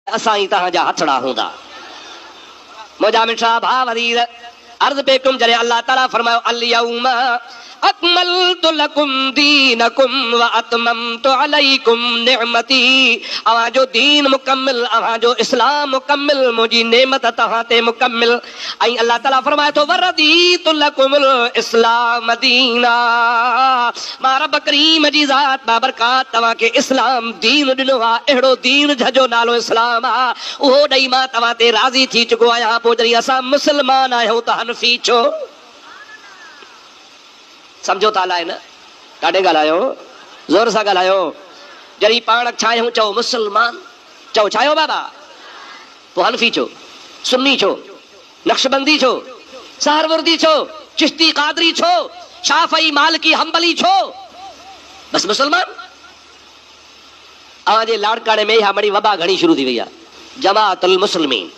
اسان ئي توهان جا هٿڙا هوندا. منهنجا مٺڙا ڀاء عزيز! عرض پي ڪيم جڏهن الله تعالي فرمايو اليوم اڪملت لڪم دينڪم واتممت عليڪم نعمتي اوهان جو دين مڪمل اوهان جو اسلام مڪمل منهنجي نعمت توهان تي مڪمل ۽ الله تعالي فرمائي ٿو، ورضيت لڪم الاسلام دينا، مان رب ڪريم جي ذات بابرڪات توهان کي اسلام دين ڏنو آهي، اهڙو دين جنهنجو نالو اسلام آهي، اهو ڏئي مان توهان تي راضي ٿي چڪو آهيان، پوء جڏهن اسان مسلمان آهيون ته حنفي ڇو؟ سمجهو ٿا الائي نه؟ ڏاڍي ڳالهايو، زور سان ڳالهايو، جڏهن پاڻ ڇا آهيون چئو مسلمان، چئو ڇا آهيو بابا؟ پوء حنفي ڇو؟ سني ڇو؟ نقشبندي ڇو؟ سهروردي ڇو؟ چشتي قادري ڇو؟ شافعي مالڪي حنبلي ڇو؟ بس مسلمان. اوهان جي لاڙڪاڻي ۾ اها مڙئي وبا گهڻي شروع ٿي وئي آهي. جماعت المسلمين.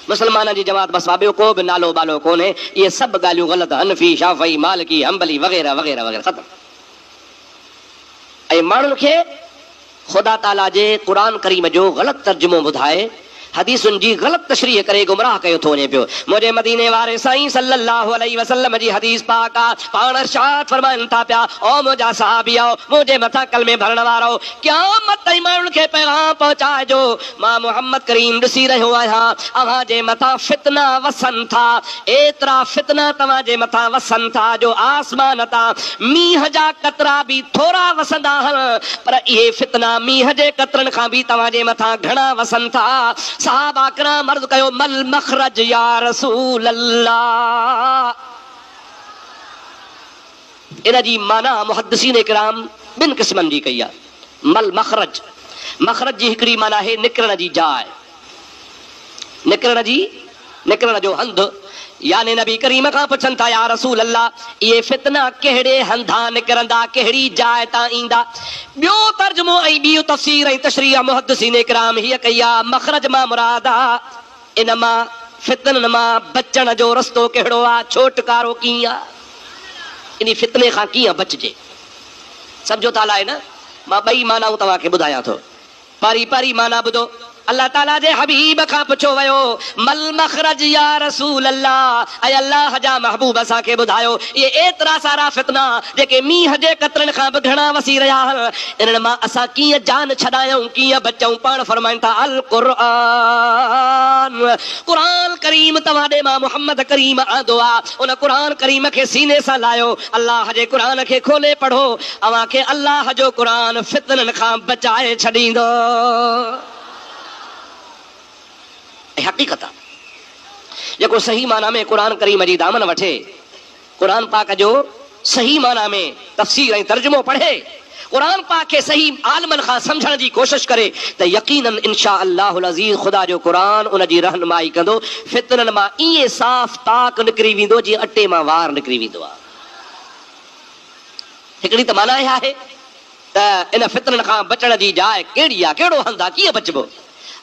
مسلمانن جي جماعت بس وا ٻيو ڪو به نالو ٻالو ڪونهي. اهي سڀ ڳالهيون غلط حنفي، شافعي، مالڪي، حنبلي وغيره وغيره وغيره ختم. ۽ ماڻهن کي. خدا تعاليٰ جي قرآن ڪريم جو غلط ترجمو ٻڌائي حديثن جي غلط تشريح ڪري گمراهه ڪيو ٿو وڃي پيو. منهنجي مديني واري سائين صلّي اللّٰه عليه وسلّم جي حديث پاڪ آ، پاڻ ارشاد فرمائن ٿا پيا، او منهنجا صحابيؤ! منهنجي مٿان ڪلمي ڀرڻ وارؤ! قيامت تائين ماڻهن کي پيغام پهچائجو، مان محمّد ڪريم ڏسي رهيو آهيان، اوهان جي مٿان فتنا وسن ٿا، ايترا فتنا توهان جي مٿان وسن ٿا جو آسمان تان مينهن جا قطرا به ٿورا وسندا آهن، پر اهي فتنا مينهن جي قطرن کان به توهان جي مٿان گهڻا وسن ٿا. صحابه ڪرام عرض ڪيو، مل مخرج يا رسول الله! ان جي معنيٰ محدثين ڪرام ٻن قسمن جي ڪئي آهي. مل مخرج، مخرج جي هڪڙي معنيٰ آهي نڪرڻ جي جاء، نڪرڻ جي، نڪرڻ جو هنڌ، يعني نبي ڪريم کان پڇن ٿا يا رسول الله اهي فتنه ڪهڙي هنڌان نڪرندا، ڪهڙي جاء تان ايندا. ٻيو ترجمو ۽ ٻي تفسير ۽ تشريح محدثين ڪرام هيء ڪئي آهي، مخرج مان مراد. ان مان، فتنن مان، بچڻ جو رستو ڪهڙو آ؟ ڇوٽڪارو ڪيئن آ؟ انهي فتني کان ڪيئن بچجي؟ سمجهو ته الائي نه؟ مان ٻئي معنائون توهان کي ٻڌايان ٿو. پهرين پهرين معنيٰ ٻڌو، الله تعاليٰ جي حبيب کان پڇيو ويو، ما المخرج يا رسول الله، اي الله جا محبوب اسان کي ٻڌايو، اهي ايترا سارا فتنا جيڪي مينهن جي قطرن کان به گهڻا وسي رهيا آهن، انهن مان اسان ڪيئن جان ڇڏايائون، ڪيئن بچئون؟ پاڻ فرمائن ٿا، القرآن، قرآن ڪريم توهان ڏي مان محمد ڪريم آندو آ، ان قرآن ڪريم کي سيني سان لاهيو، الله جي قرآن کي کولي پڙهو، اوهان کي الله جو قرآن فتنن کان بچائي ڇڏيندو. هي حقيقت آ. جيڪو صحيح معنيٰ ۾ قرآن ڪريم جي دامن وٺي. قرآن پاڪ جو صحيح معنيٰ ۾ تفسير ۽ ترجمو پڙهي، قرآن پاڪ کي صحيح عالمن کان سمجهڻ جي ڪوشش ڪري ته يقيناً ان شآء الله العزيز خدا جو قرآن ان جي رهنمائي ڪندو، فتنن مان ائين صاف طاق نڪري ويندو جيئن اٽي مان وار نڪري ويندو آهي. هڪڙي ته معنيٰ اها آهي. ته ان فتنن کان بچڻ جي جاء ڪهڙي آ؟ ڪهڙو هنڌ آ؟ ڪيئن بچبو؟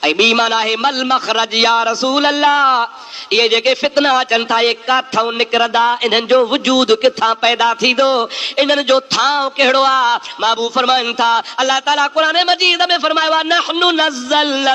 ۽ ٻي معنيٰ آهي ما المخرج يا رسول الله! اهي جيڪي فتنا اچن ٿا اهي ڪاٿئون نڪرندا؟ انهن جو وجود ڪٿان پيدا ٿيندو؟ انهن جو ٿانء ڪهڙو آ؟ محبوب فرمائن ٿا، الله تعاليٰ قرآن مجيد ۾ فرمايو آ، نحن نزلنا.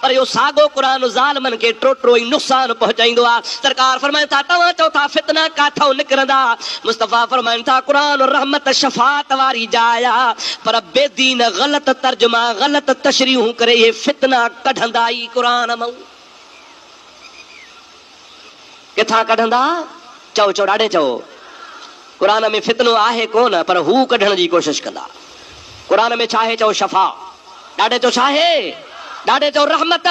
پر اهو ساڳو قرآن ظالمن کي ٽوٽرو ئي نقصان پهچائيندو آهي. سرڪار فرمائن ٿا، توهان چئو ٿا فتنا ڪاٿئون نڪرندا؟ مصطفيٰ فرمائن ٿا، قرآن رحمت شفاعت واري جاء آ، پر بي دين غلط ترجما، غلط تشريحون ڪري اهي فتنا ڪڍندا ئي قرآن مئون. ڪٿان ڪڍندا؟ چئو چئو ڏاڍي چئو. قرآن ۾ فتنو آهي ڪونه پر هو ڪڍڻ جي ڪوشش ڪندا. قرآن ۾ ڇاهي چئو شفا. ڏاڍي چئو ڇاهي؟ ڏاڍي چئو رحمت.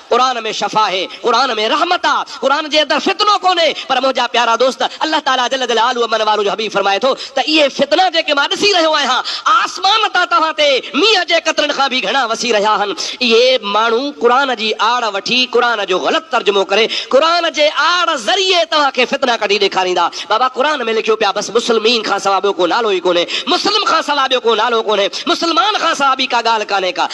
قرآن ۾ شفا هي. قرآن ۾ رحمت آ. قرآن جي اندر فتنو ڪونهي پر منهنجا پيارا دوست الله تعالي جل جلاله من والو جو حبيب فرمائي ٿو ته اهي فتنا جيڪي مان ڏسي رهيو آهيان، آسمان تان توهان تي مينهن جي قطرن کان به گهڻا وسي رهيا آهن. اهي ماڻهو قرآن جي آڙ وٺي قرآن جو غلط ترجمو ڪري قرآن جي آڙ ذريعي توهان کي فتنا ڪڍي ڏيکاريندا. بابا قرآن ۾ لکيو پيا بس مسلمين کان سوا ٻيو ڪو نالو ئي ڪونهي، مسلم کان سوا ٻيو ڪو نالو ڪونهي، مسلمان کان سوا ٻي ڪا ڳالهه ڪانهي ڪا.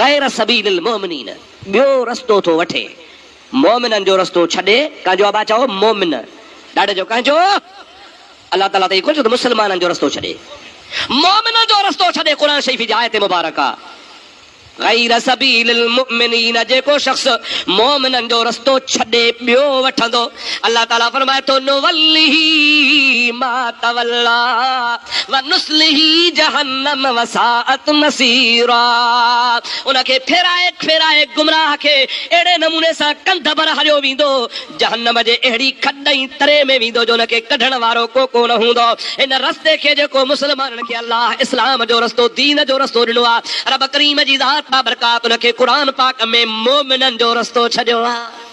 غير سبيل المومنين ٻيو رستو ٿو وٺي مومنن جو رستو ڇڏي ڪانجو ابا چئو مومن ڏاڏي جو ڪانجو الله تعالي ته اهي ڪونه چيو ته مسلمانن جو رستو ڇڏي مومنن جو رستو ڇڏي قرآن شريف جي آيت مبارڪ آ غير سبيل المومنين جيڪو شخص مومنن جو رستو ڇڏي ٻيو وٺندو الله تعالي فرمائي ٿو نولّه ما تولّي ونصلّه جهنّم وساءت مصيرا ان کي ڦيرائي ڦيرائي گمراهه کي اهڙي نموني سان ڪنڌ ڀر هريو ويندو جهنّم جي اهڙي کڏ ۽ تري ۾ ويندو جو ان کي ڪڍڻ وارو ڪو ڪونه هوندو ان رستي کي جيڪو مسلمانن کي الله اسلام جو رستو دين جو رستو ڏنو آهي رب ڪريم جي ذات بابرڪات ان کي قرآن پاڪ ۾ مؤمنن جو رستو ڇڏيو آهي.